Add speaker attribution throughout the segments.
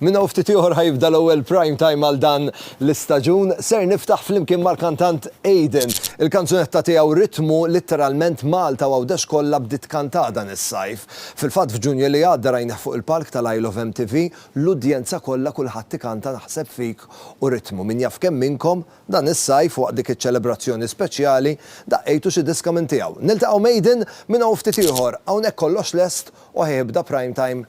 Speaker 1: Minn hawn ftit ieħor ħa jibda l-ewwel prime time għal dan l-istaġun. Ser niftaħ flimkien mal-kantant Aiden. Il-kanzunetta tiegħu Ritmu litteralment Malta u Għawdex kollha bdiet tkantah dan is-sajf. Fil-fatt f'Ġunju li għadda rajnih fuq il-palk tal-I Love MTV, l-udjenza kollha kulħadd ikanta Naħseb fik u Ritmu. Min jaf kemm minnkom dan is-sajf waqt dik iċ-ċelebrazzjoni speċjali daqqejtu xi diska minn tiegħu. Niltaqgħu m'Aiden minn hawn ftit ieħor. Hawnhekk kollox lest u ħa jibda prime time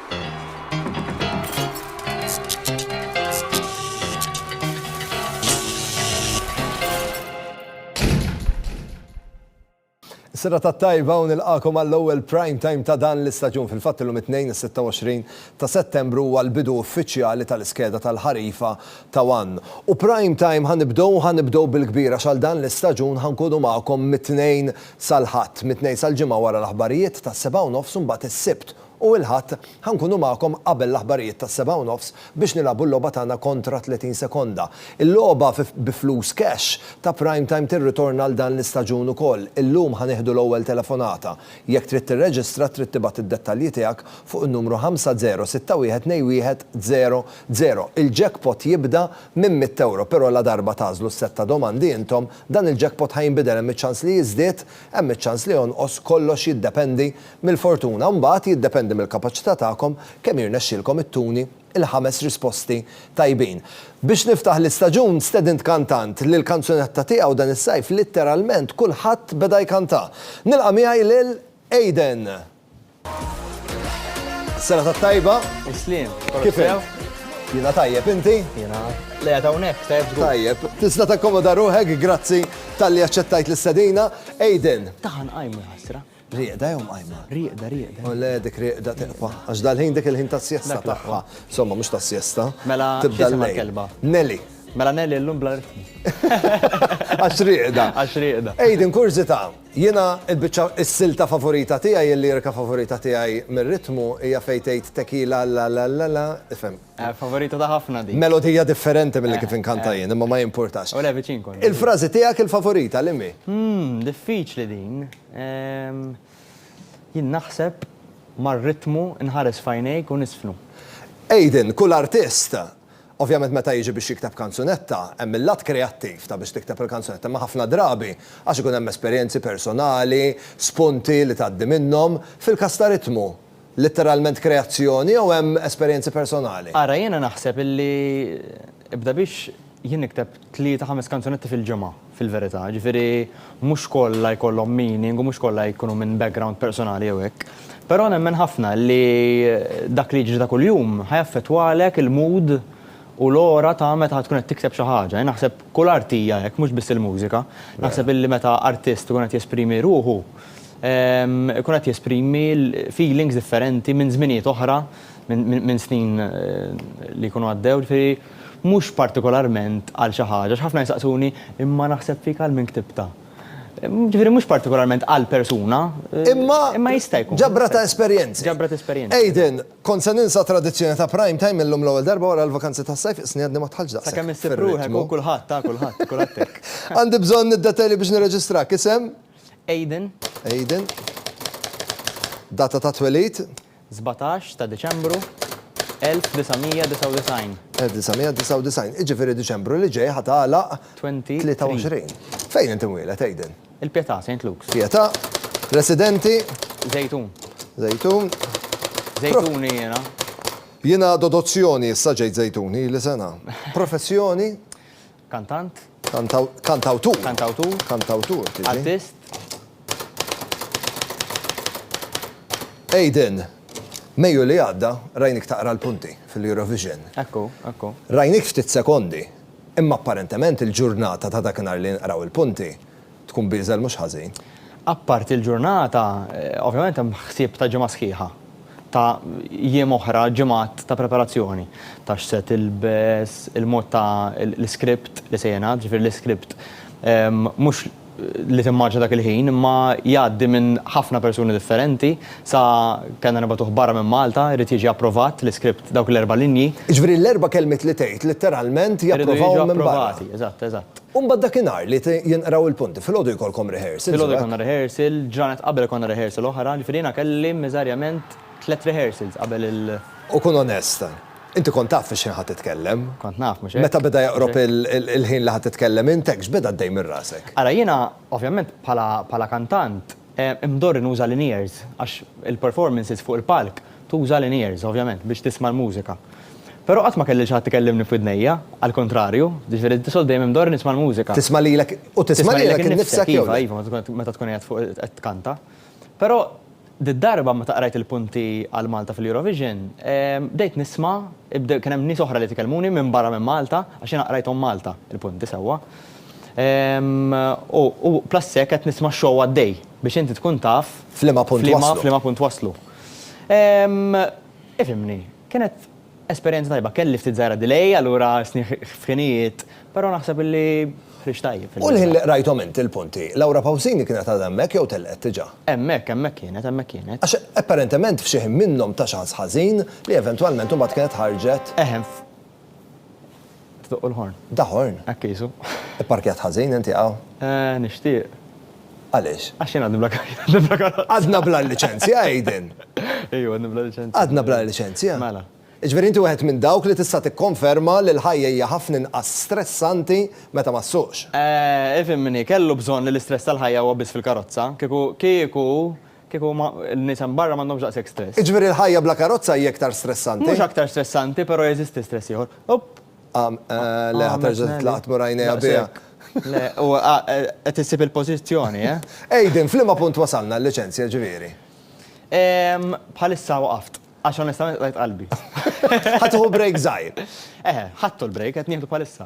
Speaker 1: Sira ta' tajba u nilqakom għall-ewwel prime time ta' dan l-istaġun fil-fatt illum it-tnejn 26 ta' Settembru huwa l-bidu uffiċjali tal-iskeda tal-ħarifa ta' One. U prime time ħanibdew ħanibdew bil-kbir għax għal dan l-istaġun ħankunu magħkom mit-Tnejn sal-Ħadd, mit-Tnejn sal-Ġimgħa wara l-aħbarijiet tas-sebgħa u nofs u mbagħad is-Sibt u il-Ħadd ħa nkunu magħkom qabel l-aħbarijiet tas-sebgħa u nofs biex nilagħbu l-logħba tagħna kontra 30 sekonda. Il-logħba bi flus cash ta' Prime Time tirritorna għal dan l-istaġun ukoll. Illum ħa nieħdu l-ewwel telefonata. Jekk trid tirreġistra trid tibgħat id-dettalji tiegħek fuq in-numru 5061210000. Il-jackpot jibda minn mitt ewro però ladarba tagħżlu s-sett ta' domandi intom, dan il-jackpot ħa jinbidel hemm iċ-ċans li jiżdied, hemm iċ-ċans li jonqos, kollox jiddependi Mill-fortuna, mbagħad, jiddependi mill-kapaċità tagħkom kemm jirnexxilkom ittuni l-ħames risposti tajbin. Biex niftaħ l-istaġun, stedint kantant li l-kanzunetta tiegħu dan is-sajf litteralment kulħadd beda jkantha. Nilqa' miegħi lil Aiden! Serata t-tajba! Isliem!
Speaker 2: Kif int?
Speaker 1: Jiena tajjeb, inti? Jiena l-qiegħed
Speaker 2: hawnhekk, tajjeb żgur. Tajjeb. Tista' takkomoda
Speaker 1: ruħek, grazzi talli aċċettajt l-istedina. Aiden! Taħan qajmu, ħasra.
Speaker 2: Rieqda jew mqajma?
Speaker 1: Rieqda, rieqda. U le
Speaker 2: dik rieqda
Speaker 1: tiqfa. Għax dal-ħin dik il-ħin ta' sjesta taqfa. Somma, mhux ta' sjesta. Mela, tibda l-kelba. Nelly.
Speaker 2: Mela
Speaker 1: Nelly l-lum
Speaker 2: bla ritmu.
Speaker 1: Għax rieqda. Għax rieqda. Ejden,
Speaker 2: kurzita,
Speaker 1: jena il-bicċa s-silta favorita tijaj, il-lirika favorita tijaj mir-ritmu, hija fejtejt tekila la la la la, ifem. Favorita ta' ħafna
Speaker 2: din. Melodija differenti milli
Speaker 1: kif inkanta jien, imma ma jimpurtax. U le viċin kont. Il-frażi
Speaker 2: tiegħek il-favorita
Speaker 1: liemhi? Hm, diffiċli
Speaker 2: din. Jien naħseb mar-ritmu nħares f'għajnejk u niżfnu. Aiden,
Speaker 1: kull artist, ovvjament meta jiġi biex jikteb kanzunetta, hemm il-lat kreattiv ta' biex tikteb il-kanzunetta, imma ħafna drabi għax ikun hemm esperjenzi personali, spunti li tgħaddi minnhom, fil-każ ta' ritmu, Litteralment kreazzjoni jew hemm esperjenzi personali? Ara jiena naħseb
Speaker 2: illi ibda biex jien nikteb tlieta ħames kanzunetti fil-ġimgħa fil-verità, jiġifieri mhux kollha jkollhom meaning u mhux kollha jkunu minn background personali jew hekk. Però nemmen ħafna illi dak li jiġri ta' kuljum ħa jaffettwalek il-mood u l-ora ta' meta ħa tkun qed tikteb xi ħaġa. Jien naħseb kull art hija hekk mhux biss il-mużika. Naħseb illi meta artist ikun qed jesprimi ruħu, Ikun qed jesprimi feelings differenti minn żminijiet oħra, minn snin li jkunu għaddew, ġifieri mhux partikolarment għal xi ħaġa, għax ħafna jsaqsuni, imma naħseb fik għal min ktibtha. Ġifieri mhux partikolarment għal persuna, imma jista' jkun. Imma ġabra ta' esperjenzi.
Speaker 1: Ġabra ta' esperjenzi. Aidan,
Speaker 2: Kont se
Speaker 1: ninsa t-tradizzjoni ta' Prime Time illum l-ewwel darba wara l-vakanzi tas-sajf isni għadni ma dħaltx daqshekk fir-ritmu. Sakemm issib ruħek, hu kulħadd,
Speaker 2: ha kulħadd, kulħadd hekk. Għandi bżonn id-dettajli
Speaker 1: biex nirreġistrak, isem? Aidan.
Speaker 2: Aidan.
Speaker 1: Data ta' twelid? 17 ta'
Speaker 2: Diċembru 1999. 1999.
Speaker 1: Jiġifieri Diċembru li ġej ħa tagħlaq 23. Fejn int imwieled, Aidan? Il-Pietà, Saint Luke's.
Speaker 2: Pietà.
Speaker 1: Residenti? Żejtun.
Speaker 2: Żejtun.
Speaker 1: Żejtuni jiena.
Speaker 2: Jiena
Speaker 1: Dodozzjoni, issa ġejt Żejtuni, ili sena. Professjoni? Kantant. Kantawtur. Kantawtur. Kantawtur.
Speaker 2: Artist.
Speaker 1: Aiden, Mejju li għadda, rajnik taqra l-punti fil-Eurovision. Ekku, ekku.
Speaker 2: Rajnik ftit
Speaker 1: sekondi, imma apparentement il-ġurnata ta' dakinhar li nqraw il-punti, tkun b'ieżel mhux ħażin.
Speaker 2: Apparti l-ġurnata, ovvjament hemm ħsieb ta' ġimgħa sħiħa, ta' jiem oħra, ġimgħat ta' preparazzjoni, ta' x'se tilbes, il-mod ta' l-iskript li se jingħad, ġifieri l-iskript mhux li timmarċja dak il-ħin, imma jgħaddi minn ħafna persuni differenti, sa kellna nibgħatuh barra minn Malta, irid jiġi approvat l-iskript dawk l-erba' linji. Jiġifieri l-erba' kelmiet
Speaker 1: li tgħid, litteralment japprovahom minn barra. Iridu jiġu approvati, eżatt, eżatt. U mbagħad
Speaker 2: dakinhar li
Speaker 1: jinqraw il-punti, filgħodu jkollkom rehearsal. Filgħodu jkollna rehearsal,
Speaker 2: ġranet qabel ikollna rehearsal oħra, ġifieri jiena kelli miżarjament tliet rehearsals qabel il-. U kun onest,
Speaker 1: inti kont taf fix-xħin ħa titkellem? Kont naf, mhux hekk? Meta
Speaker 2: beda joqrob
Speaker 1: il-ħin li ħa titkellem int, hekk x'beda għaddej minn rasek? Ara jiena,
Speaker 2: ovvjament bħala kantant, Imdorri nuża l-in-ears għax il-performances fuq il-palk tuża l-in-ears, ovvjament, biex tisma' l-mużika. Però qatt ma kelli lil xi ħadd ikellimni f'widnejja, għall-kuntrarju, jiġifieri di soltu dejjem imdorri nisma' l-mużika. Tisma' lilek, u
Speaker 1: tisma' lilek innifsek jew le? Iva, iva, meta tkun qiegħed
Speaker 2: fuq qed tkanta. Però did-darba meta qrajt il-punti għal Malta fil-Eurovision, bdejt nisma', kien hemm nies oħra li tkellmuni minbarra minn Malta, għax jiena qrajthom Malta, il-punti sewwa. U plus hekk qed nisma' x-show għaddej biex inti tkun taf. F'liema punt waslu.
Speaker 1: F'liema punt waslu.
Speaker 2: Ifhimni, kienet esperjenza tajba. Kelli ftit żgħira delay, allura għassni f'ħinijiet, però naħseb illi ħriġt tajjeb. U l-ħin li qrajthom inti
Speaker 1: l-punti, Laura Pausini kienet għadha hemmhekk jew telqet diġà? Hemmhekk, hemmhekk kienet,
Speaker 2: hemmhekk kienet. Għax apparentement
Speaker 1: f'xi ħin minnhom ta xi ħass ħażin li eventwalment imbagħad kienet ħarġet. Eħe.
Speaker 2: Tdoqqu l-ħorn. Da ħorn? Hekk qisu. Ipparkjat ħażin
Speaker 1: inti hawn? Eh, nixtieq.
Speaker 2: Għaliex?
Speaker 1: Għax jien għadni bla
Speaker 2: karozza. Għadna bla liċenzja,
Speaker 1: Aiden? Ejju, għadni bla
Speaker 2: liċenzja. Għadna bla liċenzja?
Speaker 1: Mela. Jiġifieri
Speaker 2: inti wieħed minn
Speaker 1: dawk li tista' tikkonferma li l-ħajja hija ħafna inqas stressanti meta ma ssuqx? Eh, ifhimni,
Speaker 2: kellu bżonn li l-istress tal-ħajja huwa biss fil-karozza. Kieku, kieku, Kieku huma, n-nies hemm barra m'għandhomx daqshekk stress. Jiġifieri l-ħajja bla karozza
Speaker 1: hi aktar stressanti? Mhux aktar stressanti,
Speaker 2: però jeżisti stress ieħor. Opp! Għam,
Speaker 1: le, ħa terġa' titlaqat mur għajnejha biha. Daqshekk.
Speaker 2: Le, u qed issib il-pożizzjoni, eh? Aiden, f'liema
Speaker 1: punt wasalna għal-liċenzja, ġifieri? Ehm, bħalissa
Speaker 2: waqaft. Għax onestament qtajt qalbi. Ħa tieħu
Speaker 1: break żgħir. Eħe, ħadtu
Speaker 2: l-break, qed nieħdu bħalissa.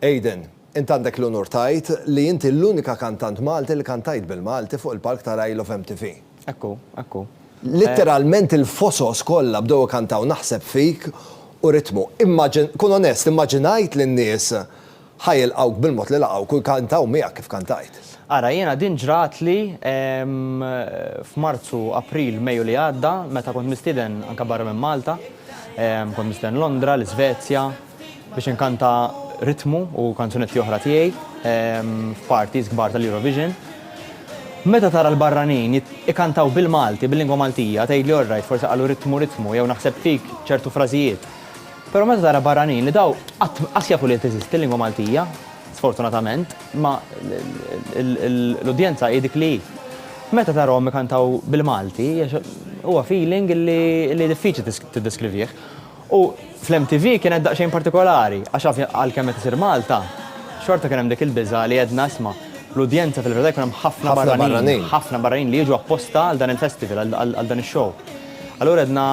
Speaker 1: Aidan, int għandek l-unur tgħid li inti l-unika kantant Malti li kantajt bil-Malti fuq il-palk ta' Rai Love MTV. Hekk hu, hekk hu.
Speaker 2: Litteralment
Speaker 1: il-fosos kollha bdew ikantaw Naħseb Fik u Ritmu. Immaġin, kun onest, immaġinajt li n-nies ħa jilqgħuk bil-mod li laqgħuk u jkantaw miegħek kif kantajt? Ara, jiena din
Speaker 2: ġratli f'Marzu, April, Mejju li għadda meta kont mistieden anke barra minn Malta. Kont mistieden Londra, l-Isvezja, biex inkanta ritmu u kanzunetti oħra tiegħi f'parties kbar tal-Eurovision. Meta tara l-barranin ikantaw bil-Malti, bil-lingwa Maltija, tgħidli orrajt forsi qalu ritmu ritmu jew naħseb fik ċertu frażijiet. Però meta tara barranin li daw qatt qas jafu li qed teżisti l-lingwa Maltija, sfortunatament, imma l-udjenza hi dik li hi. Meta tarahom ikantaw bil-Malti huwa feeling li diffiċli tiddeskrivih. U fl-MTV kienet daqsxejn partikolari, għax ovvja għalkemm qed isir Malta, xorta kien hemm dik il-biża' li għedna isma' l-udjenza fil-verità jkun hemm ħafna barranin, ħafna barranin li jiġu apposta għal dan il-festival, għal dan ix-show. Allura għedna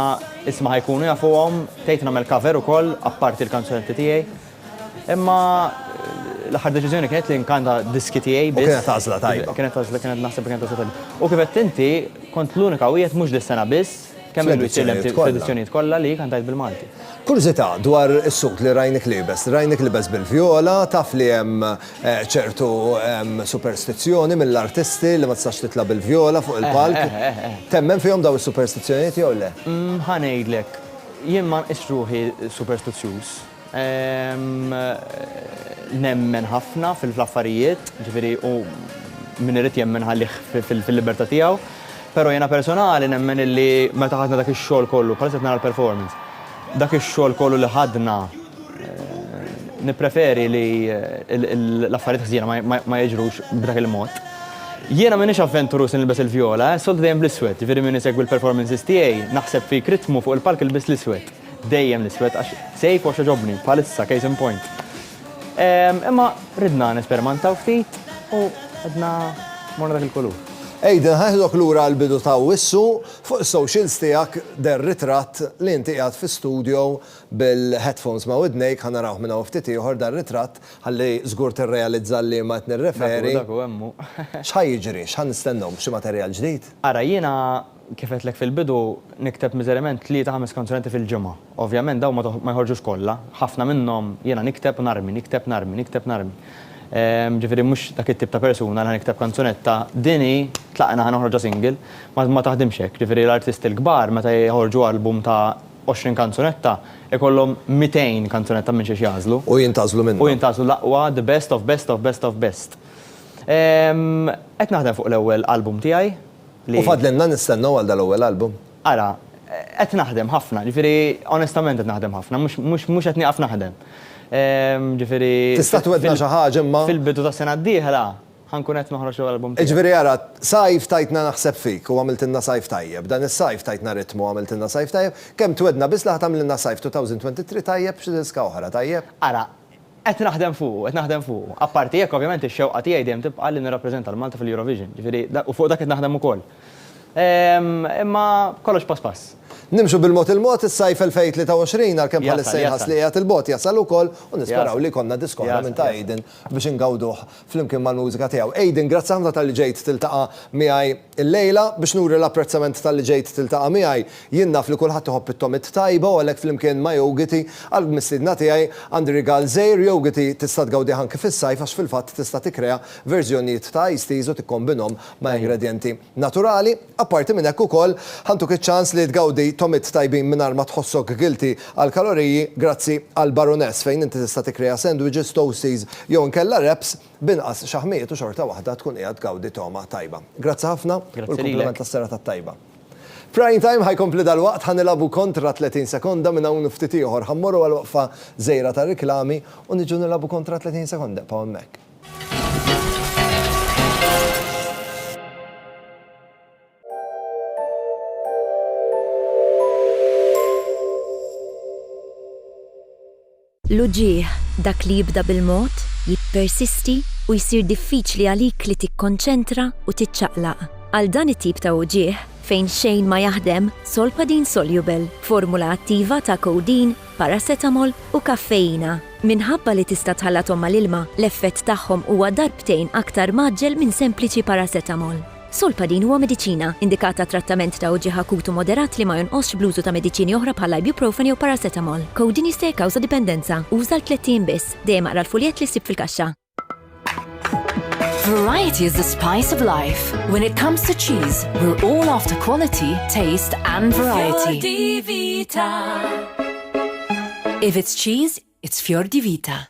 Speaker 2: isma' ħa jkunu jafuhom, bdejt nagħmel cover ukoll apparti l-kanzunetti tiegħi. Imma l-aħħar deċiżjoni kienet li nkanta diski tiegħi biss. U kienet għażla tajba. Kienet
Speaker 1: għażla, kienet naħseb li kienet
Speaker 2: għażla tajba. U kif għedt inti, kont l-unika wieħed mhux dis-sena biss, Kemm ilu jsir l-MTV fl-edizzjonijiet kollha li kantajt bil-Malti? Kurżità dwar
Speaker 1: is-sut li rajnik liebes. Rajnik libes bil-vjola, taf li hemm ċertu superstizzjoni mill-artisti li ma tistax titla' bil-vjola fuq il-palk. Eħ, eħ, eħ. Temmen fihom dawn is-superstizzjonijiet jew le? Ħa ngħidlek,
Speaker 2: jien ma nqisx ruħi superstizzjuż. Nemmen ħafna fl-affarijiet, ġifieri u min irid jemmen ħallih fil-libertà tiegħu. Però jiena personali nemmen illi meta ħadna dak ix-xogħol kollu, bħalissa qed nara l-performance, dak ix-xogħol kollu li ħadna nippreferi li l-affarijiet ħżiena ma jiġrux b'dak il-mod. Jiena m'iniex avventuruż li nilbes il-vjola, soltu dejjem bl-iswed, ġifieri min isegwi l-performances tiegħi naħseb fi jekk ritmu fuq il-palk ilbiss l-iswed. Dejjem l-iswed għax sejf u għax jogħġobni, bħalissa case in point. Imma ridna nespermantaw ftit u għedna morna dak il-kulur. Aidan, ħa nieħdok
Speaker 1: lura għall-bidu ta' Awwissu, fuq is-socials tiegħek deher ritratt li inti qiegħed fi studio bil-headphones ma' widnejk, ħa narawh minn hawn ftit ieħor dan ritratt ħalli żgur tirrealizza għal liema qed nirreferi. Dak hu, dak hu, hemm hu.
Speaker 2: X'ħa jiġri? X'ħa
Speaker 1: nistennew? Xi materjal ġdid? Ara jiena
Speaker 2: Kif għedtlek fil-bidu, nikteb miżerjament tlieta ħames kanzunette fil-ġimgħa. Ovvjament dawn ma joħorġux kollha. Ħafna minnhom jiena nikteb u narmi, nikteb narmi, nikteb narmi. Ġifieri mhux dak it-tip ta' persuna li ħa nikteb kanzunetta, din hi, tlaqna ħa noħorġha single. Ma taħdimx hekk. Ġifieri l-artisti l-kbar meta joħorġu album ta' għoxrin kanzunetta, ikollhom mitejn kanzunetta minn xiex jagħżlu. U jintgħażlu minnhom. U
Speaker 1: jintgħażlu l-aqwa, the
Speaker 2: best of best of best of best. Qed naħdem fuq l-ewwel album tiegħi. U fadlilna
Speaker 1: nistennew għal dal-ewwel album? Ara,
Speaker 2: qed naħdem ħafna, ġifieri onestament qed naħdem ħafna, mhux qed nieqaf naħdem. Ġifieri. Tista' twegħdna
Speaker 1: xi ħaġa imma? Fil-bidu tas-sena d-dieħla
Speaker 2: ħa nkun qed noħroġ l-ewwel album tiegħi. Jiġifieri ara,
Speaker 1: sajf tajtna Naħseb Fik u għamiltilna sajf tajjeb. Dan is-sajf tajtna Ritmu u għamiltilna sajf tajjeb. Kemm twegħdna biss li ħa tagħmlilna sajf 2023 tajjeb b'xi diska oħra, tajjeb? Ara, Qed
Speaker 2: naħdem fuqu, qed naħdem fuqu. Apparti hekk, ovvjament ix-xewqa tiegħi dejjem tibqa' li nirrappreżenta 'l Malta fil-Eurovision, ġifieri u fuq dak qed naħdem ukoll. Imma kollox pass pass. Nimxu bil-mod
Speaker 1: il-mod, is-sajf 2023, għalkemm bħalissa jinħass li qiegħed 'il bogħod, jasal ukoll u nisperaw li jkollna disk oħra minn ta' Aiden biex ingawduh flimkien mal-mużika tiegħu. Aiden, grazzi ħafna talli ġejt tiltaqa' miegħi. Illejla, biex nuri l-apprezzament talli ġejt tiltaqa' miegħi, jien naf li kulħadd iħobb it-togħmiet tajba u għalhekk flimkien ma' Yogiti, għall-mistiedna tiegħi, għandi rigal żgħir, Yogiti, tista' tgawdih anki fis-sajf għax fil-fatt tista' tikkrea verżjonijiet ta' iced teas u tikkombinhom ma' ingredjenti naturali. Apparti minn hekk ukoll, ħantuk iċ-ċans li tgawdi togħmiet tajbin mingħajr ma tħossok guilty għall-kaloriji grazzi għall-Baroness fejn inti tista' tikkrea sandwiches, toasties jew inkella wraps B'inqas xaħmijiet u xorta waħda tkun qiegħed tgawdi togħma tajba. Grazzi ħafna u l-kumpliment tas-serata t-tajba. Prime Time ħa jkompli dalwaqt, ħa nilagħbu kontra 30 sekonda, minn hawn u ftit ieħor ħa mmorru għal waqfa żgħira ta' riklami u niġu nilagħbu kontra 30 sekonda, ebqgħu hemmhekk.
Speaker 3: L-uġigħ, dak li jibda bil-mod, jippersisti u jsir diffiċli għalik li tikkonċentra u tiċċaqlaq. Għal dan it-tip ta' uġigħ, fejn xejn ma jaħdem, Solpadeine Soluble, formula attiva ta' codeine, paracetamol u kaffeina. Minħabba li tista' tħallathom mal-ilma, l-effett tagħhom huwa darbtejn aktar mgħaġġel minn sempliċi paracetamol. Solpadin huwa mediċina, indikat għat-trattament ta' uġigħ akut u moderat li ma jonqosx bl-użu ta' mediċini oħra bħall-ibuprofen jew paracetamol. Codeine jista' jikkawża dipendenza. Uża għal tlett ijiem biss. Dejjem aqra l-fuljett li ssib fil-kaxxa.
Speaker 4: Variety is the spice of life. When it comes to cheese, we're all after quality, taste and variety. Fior di Vita. If it's cheese, it's Fior di Vita.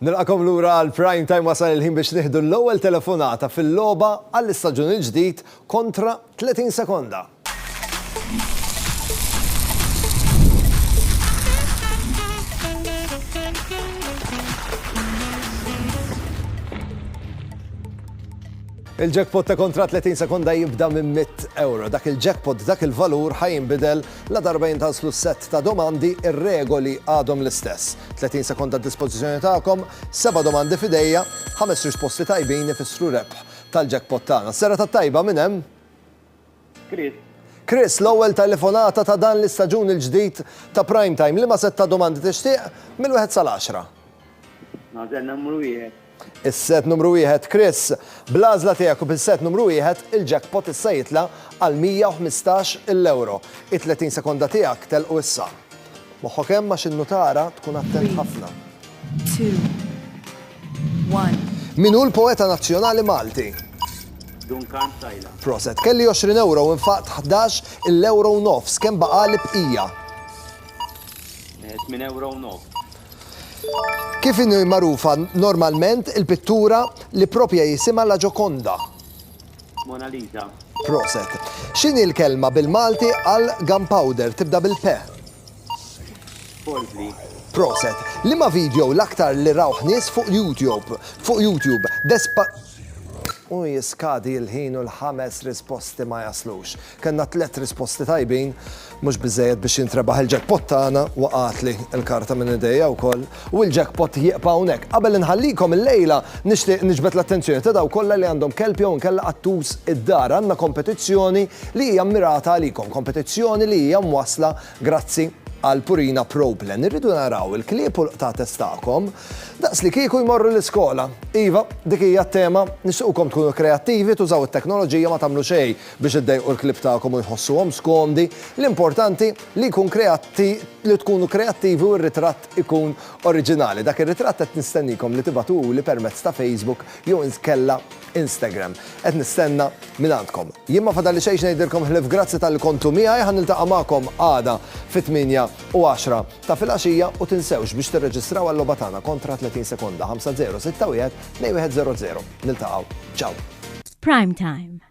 Speaker 1: Nilqakom lura għal prime time wasal il-ħin biex nieħdu l-ewwel telefonata fil-logħba għall-istaġun il-ġdid kontra 30 sekonda. Il-jackpot ta' kuntratt 30 sekonda jibda minn mitt ewro. Dak il-jackpot b'dak il-valur ħa jinbidel ladarba jintażlu s-sett ta' domandi, ir-regoli għadhom l-istess. 30 sekonda għad-dispożizzjoni tagħkom, seba' domandi f'idejja, ħames risposti tajbin ifissru rebħ tal-jackpot tagħna. Serata t-tajba minn hemm!
Speaker 5: Chris. Chris, l-ewwel telefonata
Speaker 1: ta' dan l-istaġun il-ġdid ta' Prime Time, liema sett ta' domandi tixtieq mill-wieħed sal-għaxra? Nażel
Speaker 5: numru wieħed. Is-set numru
Speaker 1: wieħed, Chris. Bl-għażla tiegħek u bis-set numru wieħed, il-jackpot issa jitla' għal 115 il ewro. It-30 sekonda tiegħek telqu issa. Moħħok hemm għax in-nutara tkun attent ħafna. 3,
Speaker 6: 2, Min hu
Speaker 1: l-poeta nazzjonali Malti? Duncan
Speaker 5: Sajla. Proset. Kelli 20
Speaker 1: ewro u nfaqt 11 il-ewro u nofs. Kemm baqali bqija?
Speaker 5: 8 ewro u nofs.
Speaker 1: Kif inhi magħrufa normalment il-pittura li propja jisimha La Gioconda? Mona
Speaker 5: Lisa. Proset.
Speaker 1: X'inhi l-kelma bil-Malti għal gunpowder? Tibda bil-pe. Polvri.
Speaker 5: Proset.
Speaker 1: Liema video l-aktar li rawh nies fuq YouTube? Fuq YouTube. Despa. U jiskadi l-ħin u l-ħames risposti ma jaslux. Kellna tliet risposti tajbin, mhux biżżejjed biex jintrebaħ il-jackpot tagħna, waqgħatli l-karta minn idejja wkoll, u l-jackpot jieqpa' hawnhekk. Qabel inħallikom illejla nixtieq niġbed l-attenzjoni ta' dawk kollha li għandhom kelb jew inkella qattus id-dar. Għandna kompetizzjoni li hija mmirata għalikom, kompetizzjoni li hija mwassla grazzi għal Purina Pro Plan. Irridu naraw il-klieb u l-qtates tagħkom daqslikieku jmorru l-iskola. Iva, dik hija t-tema, nixtiequkom tkunu kreattivi, tużaw it-teknoloġija ma tagħmlu xejn. biex iddejqu l-klieb tagħkom u jħossuhom skomdi, l-importanti li jkun kreatti li tkunu kreattivi u r-ritratt ikun oriġinali. Dak ir-ritratt qed nistennikom li tibagħtuhuli permezz ta' Facebook jew inkella Instagram. Qed nistenna mingħandkom. Jien ma fadalli xejn x'ngħidilkom ħlief grazzi talli kontu miegħi, ħa niltaqa' magħkom għada fit-tmienja u għaxra ta' filgħaxija u tinsewx biex tirreġistraw għal-logħba tagħna kontra 30 sekonda, 5-0, 6-1, 2-1 0-0. Niltaqgħu. Ciao! F'Prime
Speaker 3: Time.